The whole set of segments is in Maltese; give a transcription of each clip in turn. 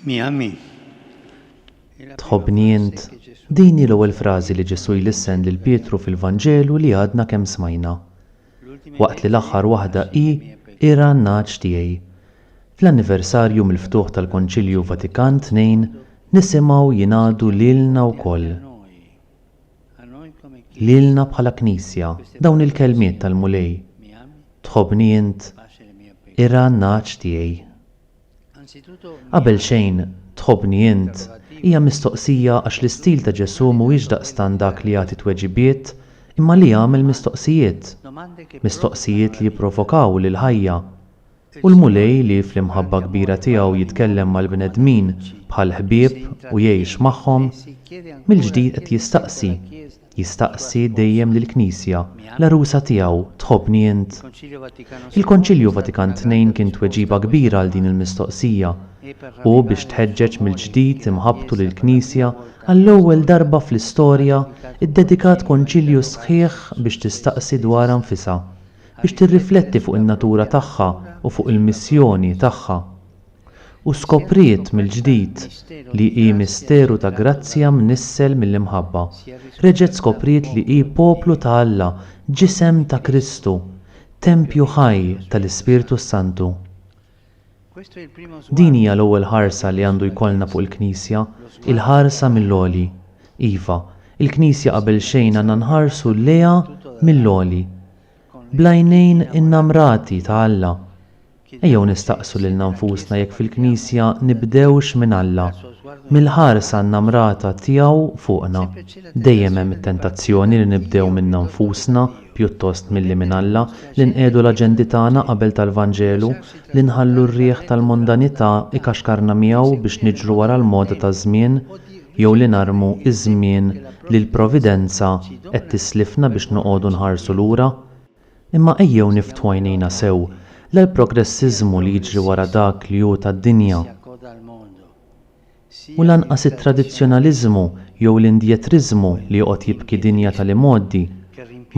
Miami. Tħobbni int? Din hi l-ewwel frażi li Ġesù jlissen lil Pietru fil-Vanġelu li għadna kemm smajna. Waqt li l-aħħar waħda hi Ira n-nagħaġ tiegħi. Fl-anniversarju mill-ftuħ tal-Konċilju Vatikan ii nisimgħu jingħadu lilna wkoll. Lilna bħala Knisja dawn il-kelmiet tal-Mulej, Tħobbni int? Irgħa n-nagħaġ tiegħi. Qabel xejn, Tħobbni int? hija mistoqsija għax l-istil ta' Ġesù mhuwiex daqstant dak li jagħti tweġibiet imma li jagħmel mistoqsijiet. Mistoqsijiet li jipprovokaw lill-ħajja. U l-Mulej li fl-imħabba kbira tiegħu jitkellem mal-bnedmin bħal ħbieb u jgħix magħhom, mill-ġdid qed jistaqsi, jistaqsi dejjem lill-Knisja, l-għarusa tiegħu, tħobbni int? Il-Konċilju Vatikan Tnejn kien tweġiba kbira għal din il-mistoqsija, u biex tħeġġeġ mill-ġdid imħabbtu lill-Knisja, għall-ewwel darba fl-istorja iddedikat Konċilju sħiħ biex tistaqsi dwarha nfisha, biex tirrifletti fuq in-natura tagħha u fuq il-missjoni tagħha. U skopriet mill-ġdid li hi misteru ta' grazzja mnissel mill-imħabba. Reġgħet skopriet li hi poplu ta' Alla, ġisem ta' Kristu, tempju ħaj tal-Ispirtu s-Santu. Din hija l-ewwel ħarsa li għandu jkollna fuq il-Knisja, il-ħarsa mill-għoli. Iva, il-Knisja qabel xejn għandna nħarsu lejha mill-għoli, bl-għajnejn innamrati ta' Alla. Ejjew nistaqsu lilna nfusna jekk fil-Knisja nibdewx minn Alla, mill-ħarsa innamrata tiegħu fuqna. Dejjem hemm it-tentazzjoni li nibdew minna nfusna, pjuttost milli minn Alla, li nqiegħdu l-aġendi tagħna qabel tal-Vanġelu, li nħallu r-riħ tal-mondanità ikaxkarna miegħu biex niġru wara l-moda taż-żmien, jew li narmu ż-żmien li l-Providenza qed tislifna biex noqogħdu nħarsu lura? Imma ejjew niftħu għajnejna sew, la l-progressiżmu li jiġri wara dak li hu tad-dinja, u lanqas it-tradizzjonaliżmu jew l-indjetriżmu li joqgħod jibki dinja tal-imgħoddi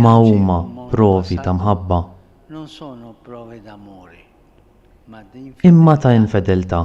ma huma provi ta' mħabba, imma ta' infedeltà.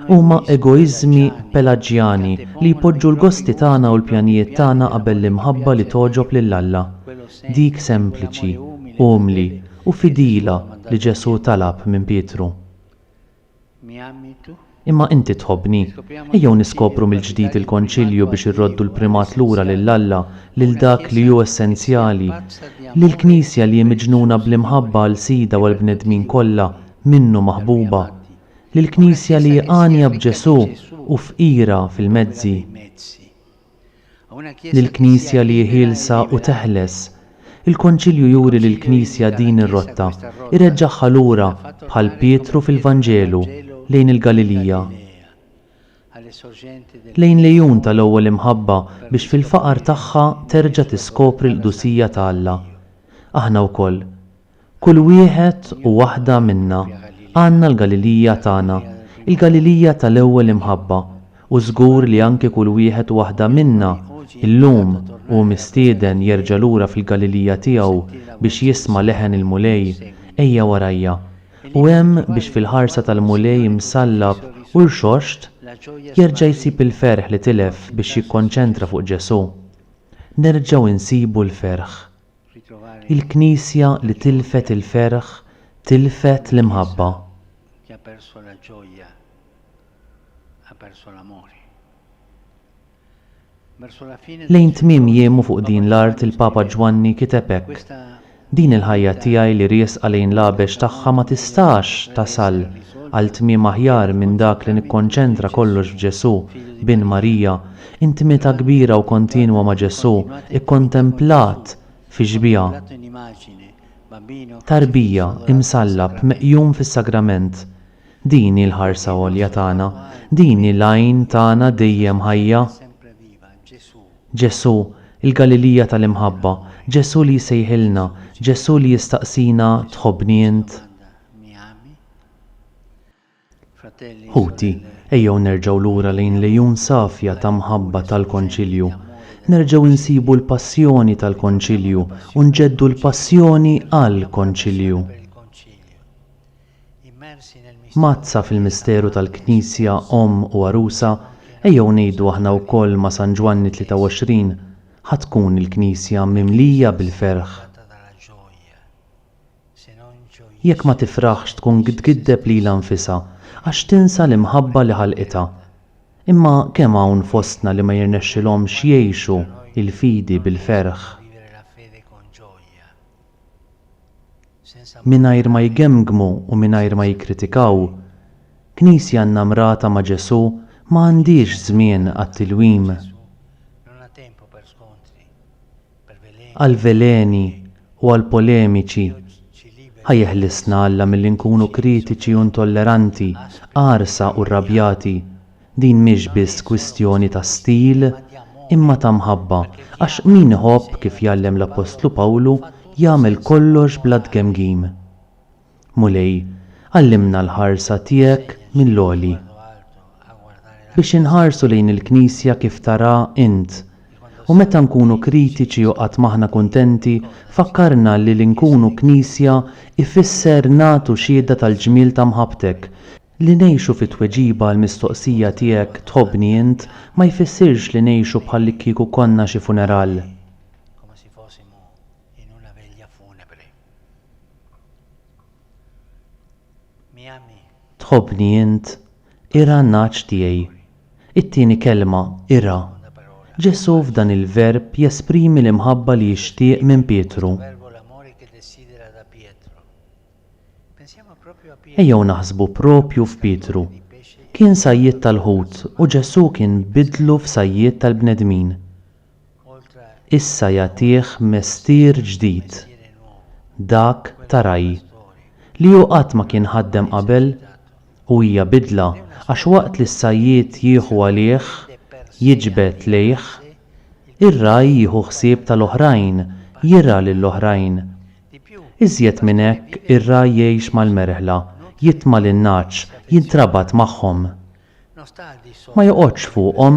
Huma egoiżmi pelaġjani li jpoġġu l-gosti tagħna u l-pjanijiet tagħna qabel l-imħabba li togħġob lil Alla, dik sempliċi, umli, u fidila li Ġesù talab minn Pietru. Imma inti tħobbni. Ejjew niskopru mill-ġdid il-Konċilju biex irroddu l-primat lura lil Alla, lil dak li hu essenzjali, lill-Knisja li hi miġnuna bl-imħabba għal Sidha u għall-bnedmin kollha minnu maħbuba, lill-Knisja li hi għanja b'Ġesù u fqira fil-mezzi. lill-Knisja li hi ħielsa u teħles. Il-Konċilju juri lill-Knisja din ir-rotta, ireġġagħha lura, bħal Pietru fil-Vanġelu, lejn il-Galilija, lejn l-għejun tal-ewwel imħabba biex fil-faqar tagħha terġa' tiskopri l-qdusija ta' Alla. Aħna wkoll. Kull wieħed u waħda minna għandna l-Galilija tagħna, il-Galilija tal-ewwel imħabba, u żgur li anki kull wieħed u waħda minna llum hu mistieden jerġa' lura fil-Galilija tiegħu biex jisma' leħen il-Mulej, Ejja warajja. U hemm biex fil-ħarsa tal-Mulej msallab u rxoxt jerġa' jsib il-ferħ li tilef biex jikkonċentra fuq Ġesù. Nerġgħu nsibu l-ferħ. Il-Knisja li tilfet il-ferħ tilfet l-imħabba. Lejn tmiem jiemu fuq din l-art il-Papa Ġwanni kiteb hekk, Din il-ħajja tiegħi li riesqa lejn l-għabex tagħha ma tistax tasal għal tmiem aħjar minn dak li nikkonċentra kollox f'Ġesù, bin Marija, Intimità kbira u kontinwa ma' Ġesù kkontemplat fix-xbieha. Tarbija, imsallab, meqjum fis-Sagrament. Din hi l-ħarsa għolja tagħna, din hi l-għajn tagħna dejjem ħajja. Ġesù, il-Galilija tal-imħabba, Ġesù li jsejħilna, Ġesù li jistaqsina tħobbni int? Ħuti, ejjew nerġgħu lura lejn l-għejun safja ta' mħabba tal-Konċilju. Nerġgħu insibu l-passjoni tal-Konċilju u nġeddu l-passjoni għall-Konċilju. Mgħaddsa fil-misteru tal-Knisja Omm u Għarusa, ejjew ngħidu aħna wkoll ma' San Ġwanni 23, Ħa tkun il-Knisja mimlija bil-ferħ. Jekk ma tifraħx tkun tgiddeb lilha nfisha għax tinsa l-imħabba li ħalqitha. Imma kemm hawn fostna li ma jirnexxilhomx jgħixu l-fidi bil-ferħ mingħajr ma jgemmgmu u mingħajr ma jikkritikaw. Knisja nnamrata ma' Ġesù ma għandhiex żmien għat-tilwim. għall-veleni u għall-polemiċi. Ħa jeħlisna Alla milli nkunu kritiċi u intolleranti, qarsa u rrabjati. Din mhix biss kwistjoni ta' stil, imma ta' mħabba, għax min iħobb, kif jgħallem l-appostlu Pawlu, jagħmel kollox bla tgemgim. Mulej, għallimna l-ħarsa tiegħek mill-għoli, biex inħarsu lejn il-Knisja kif tarha int, u meta nkunu kritiċi u qatt m'aħna kuntenti, fakkarna li li nkunu Knisja jfisser nagħtu xhieda tal-ġmiel ta' mħabbtek, li ngħixu fi tweġiba għall-mistoqsija tiegħek tħobbni int ma jfissirx li ngħixu bħallikkieku konna xi funeral. In una veglia funebre. Mi ami? Tħobbni int? Ira n-nagħaġ tiegħi. It-tieni kelma, ira. Ġesù f'dan il-verb jesprimi l-imħabba li jixtieq minn Pietru. Ejjew naħsbu proprju f'Pietru. Kien sajjied tal-ħut u Ġesù kien biddlu f'sajjied tal-bnedmin. issa jagħtih mestier ġdid, dak ta' ragħaj, li hu qatt ma kien ħaddem qabel u hija bidla għax waqt li s-sajjied jieħu għalih, jiġbed lejh, ir-ragħaj jieħu ħsieb tal-oħrajn, jirgħa lill-oħrajn. Iżjed minn hekk ir-ragħaj jgħix mal-merħla, jitma' lin-nagħaġ, jintrabat magħhom. Ma joqgħodx fuqhom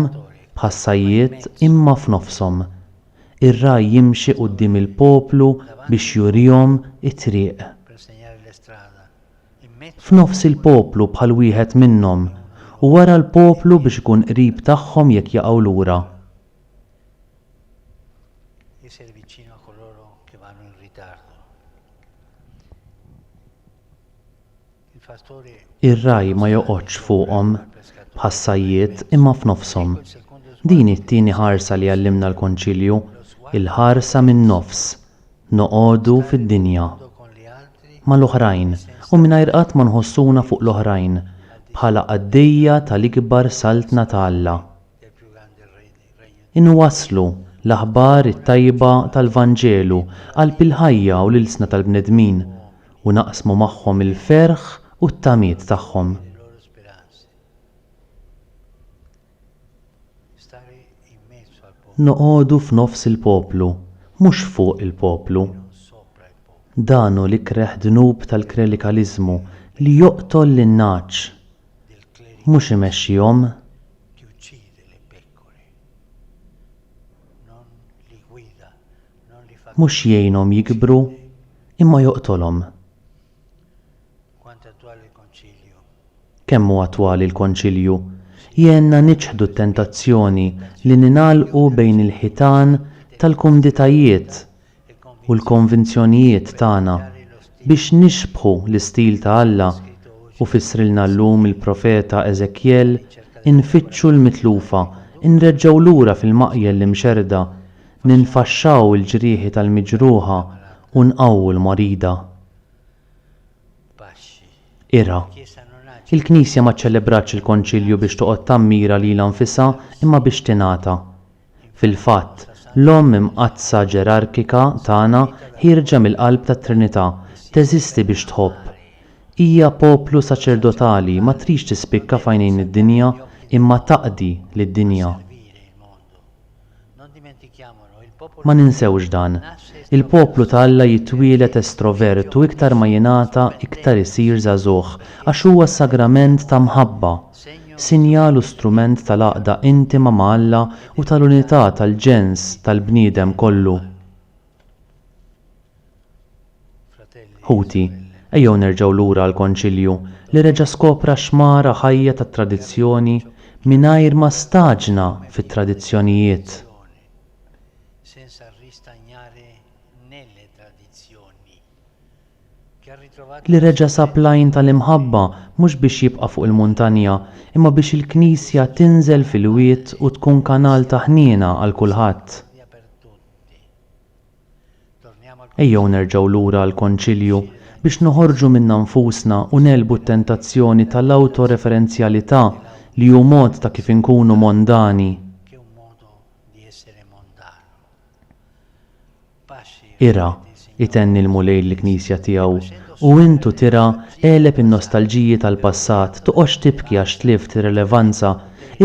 bħas-sajjied imma f'nofshom. Ir-ragħaj jimxi quddiem il-poplu biex jurihom it-triq. F'nofs il-poplu bħal wieħed minnhom u wara l-poplu biex ikun qrib tagħhom jekk jaqgħu lura. Ir-ragħaj ma joqgħodx fuqhom bħas-sajjied imma f'nofshom. Din hi t-tieni ħarsa li għallimna l-Konċilju, il-ħarsa min-nofs, noqogħdu fid-dinja, mal-oħrajn u mingħajr qatt ma nħossuna fuq l-oħrajn, bħala qaddejja tal-ikbar Saltna ta' Alla. Inwasslu l-aħbar it-tajba tal-Vanġelu qalb il-ħajja u l-ilsna tal-bnedmin, u naqsmu magħhom il-ferħ u t-tamiet tagħhom. Noqogħdu f'nofs il-poplu, mhux fuq il-poplu. Dan hu l-ikreh dnub tal-klerikaliżmu li joqtol lin-nagħaġ, mhux imexxihom li uccide le pecore, non li guida, non li fa Mhux jgħinhom jikbru, imma joqtolhom. Quanto attuale il Concilio! Kemm hu attwali l-Konċilju! Jgħinna niċħdu t-tentazzjoni li ningħalqu bejn il-ħitan tal-kumditajiet u l-konvinzjonijiet tagħna biex nixbħu l-istil ta' Alla u fissrilna llum il-profeta Eżekjel Infittxu l-mitlufa, inreġġgħu lura fil-maqjel l-imxerrda, ninfaxxaw il-ġrieħi tal-miġruħa u nqawwu l-marida. Ira. Il-Knisja ma ċċelebratx il-Konċilju biex toqgħod tammira lilha nfisha imma biex tingħata. Fil-fatt, l-Omm Imqaddsa Ġerarkika tagħna ħierġa mill-qalb tat-Trinità, teżisti biex tħobb. Hija poplu saċerdotali ma tridx tispikka f'għajnejn id-dinja imma taqdi lid-dinja. Ma ninsewx dan. Il-poplu ta' Alla jitwieled estrovert u iktar ma jingħata iktar isir żagħżugħ għax huwa sagrament ta' mħabba. sinjal u strument tal-għaqda intima ma' Alla u tal-unità tal-ġens tal-bniedem kollu. Ħuti, ejjew nerġgħu lura għall-Konċilju li reġa' skopra x-xmara ħajja tat-tradizzjoni mingħajr ma staġna fit-tradizzjonijiet. li reġa' sab l-għajn tal-imħabba mhux biex jibqa' fuq il-muntanja, imma biex il-Knisja tinżel fil-wied u tkun kanal ta' ħniena għal kulħadd. Ejjew nerġgħu lura għall-Konċilju biex noħorġu minna nfusna u negħlbu t-tentazzjoni tal-awtoreferenzjalità li hu mod ta' kif inkunu mondani. Ira, itenni l-Mulej lill-Knisja tiegħu, u int u tira, għeleb in-nostalġiji tal-passat, toqgħodx tibki għax tlift ir-relevanza,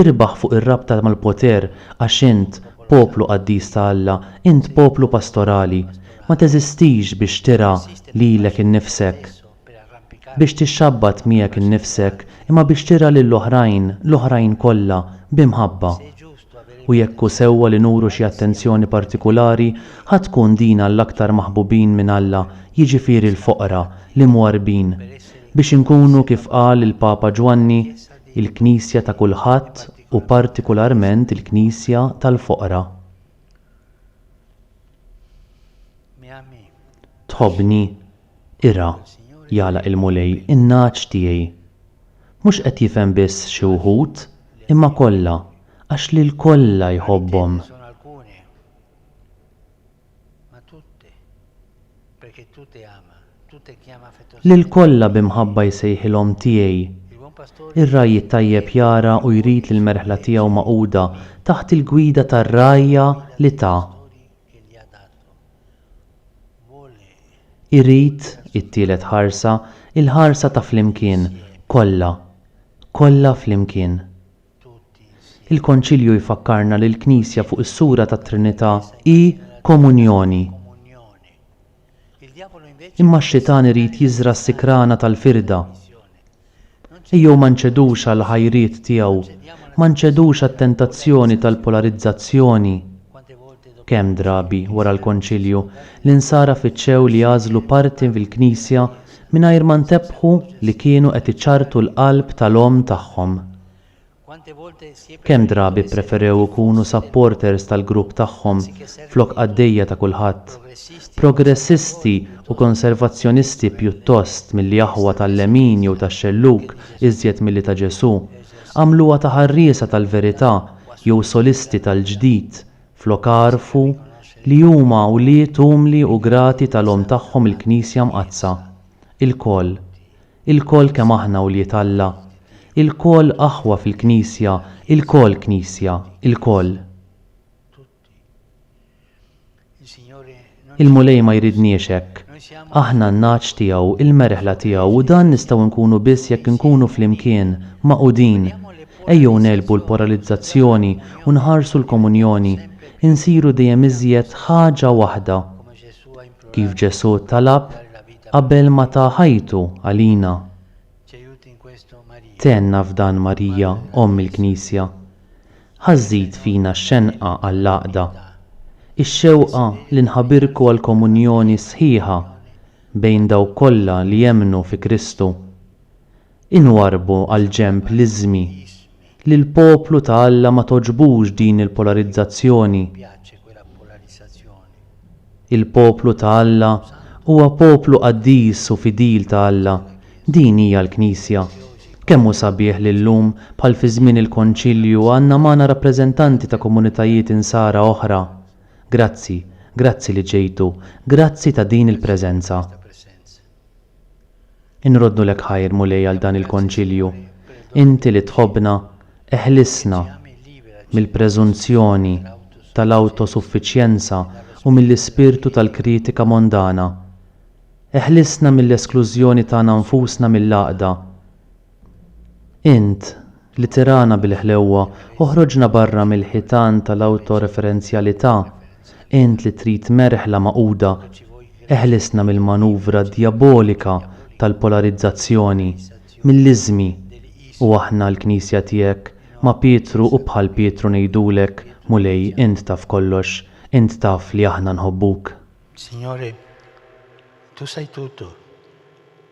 irbaħ fuq ir-rabta mal-poter, għax int, poplu qaddis ta' Alla, int poplu pastorali. Ma teżistix biex tira lilek innifsek. biex tixxabbat miegħek innifsek imma biex tira lil oħrajn, l-oħrajn kollha, bi mħabba. U jekk hu sewwa li nuru xi attenzjoni partikulari, ħa tkun din għall-aktar maħbubin minn Alla, jiġifieri l-foqra, l-imwarrbin, biex inkunu kif qal il-Papa Ġwanni, il-Knisja ta' kulħadd u partikularment il-Knisja tal-foqra. Tħobbni? Ira, jagħlaq il-Mulej in-nagħaġ tiegħi. Mhux qed jifhem biss xi wħud, imma kollha, għax lil kollha jħobbhom. Lil kollha bi mħabba jsejħilhom tiegħi. Ir-ragħaj it-tajjeb jara u jrid li l-merħla tiegħu magħquda taħt il-gwida tar-rgħajja li ta. Irid, it-tielet ħarsa, il-ħarsa ta' flimkien, kollha, kollha flimkien. Il-Konċilju jfakkarna li l-Knisja fuq is-sura tat-Trinità hi komunjoni. Imma x-Xitan irid jiżra' s-sikrana tal-firda. Ejjew ma nċedux għall-ħajriet tiegħu, ma nċedux għat-tentazzjoni tal-polarizzazzjoni. Kemm drabi, wara l-Konċilju, l-Insara fittxew li jagħżlu parti fil-Knisja mingħajr ma ntebħu li kienu qed iċarrtu l-qalb tal-Omm tagħhom. Kemm drabi ppreferew ikunu supporters tal-grupp tagħhom flok qaddejja ta' kulħadd. Progressisti u konservazzjonisti pjuttost milli aħwa tal-lemin jew tax-xellug iżjed milli ta' Ġesù, għamluha ta' ħarriesa tal-verità jew solisti tal-ġdid flok għarfu li huma wlied umli u grati tal-Omm tagħhom il-Knisja Mqaddsa. Ilkoll. Ilkoll kemm aħna wlied Alla, ilkoll aħwa fil-Knisja, ilkoll Knisja, ilkoll. Il-Mulej ma jridniex hekk. Aħna n-nagħaġ tiegħu, il-merħla tiegħu u dan nistgħu nkunu biss jekk inkunu flimkien, magħqudin. Ejjew negħlbu l-poralizzazzjoni u nħarsu l-komunjoni, insiru dejjem iżjed ħaġa waħda. Kif Ġesù talab, Qabel ma ta ħajtu għalina, tenna f'dan Marija Omm il-Knisja. Ħa żżid fina x-xenqa għall-għaqda, ix-xewqa li nħabirku għall-komunjoni sħiħa bejn dawk kollha li jemmnu fi Kristu. Inwarrbu għal ġenb l-iżmi. Lill-poplu ta' Alla ma togħġbux din il-polarizzazzjoni. Il-poplu ta' Alla huwa poplu qaddis u fidil ta' Alla. Din hija l-Knisja. Kemm hu sabiħ li llum, bħal fi żmien il-Konċilju, għandna magħna rappreżentanti ta' komunitajiet Insara oħra. Grazzi, grazzi li ġejtu, grazzi ta' din il-preżenza. Inroddulek ħajr, Mulej, għal dan il-Konċilju. Inti li tħobbna, eħlisna mill-preżunzjoni tal-awtosuffiċjenza u mill-ispirtu tal-kritika mondana. Eħlisna mill-esklużjoni tagħna nfusna mill-għaqda. Int, li tirana bil-ħlewwa, oħroġna barra mill-ħitan tal-awtoreferenzjalità. Int li trid merħla magħquda, eħlisna mill-manuvra djabolika tal-polarizzazzjoni, mill-iżmi. U aħna l-Knisja tiegħek, ma' Pietru u bħal Pietru ngħidulek, Mulej, int taf kollox, int taf li aħna nħobbuk. Signore, Tu sai tutto.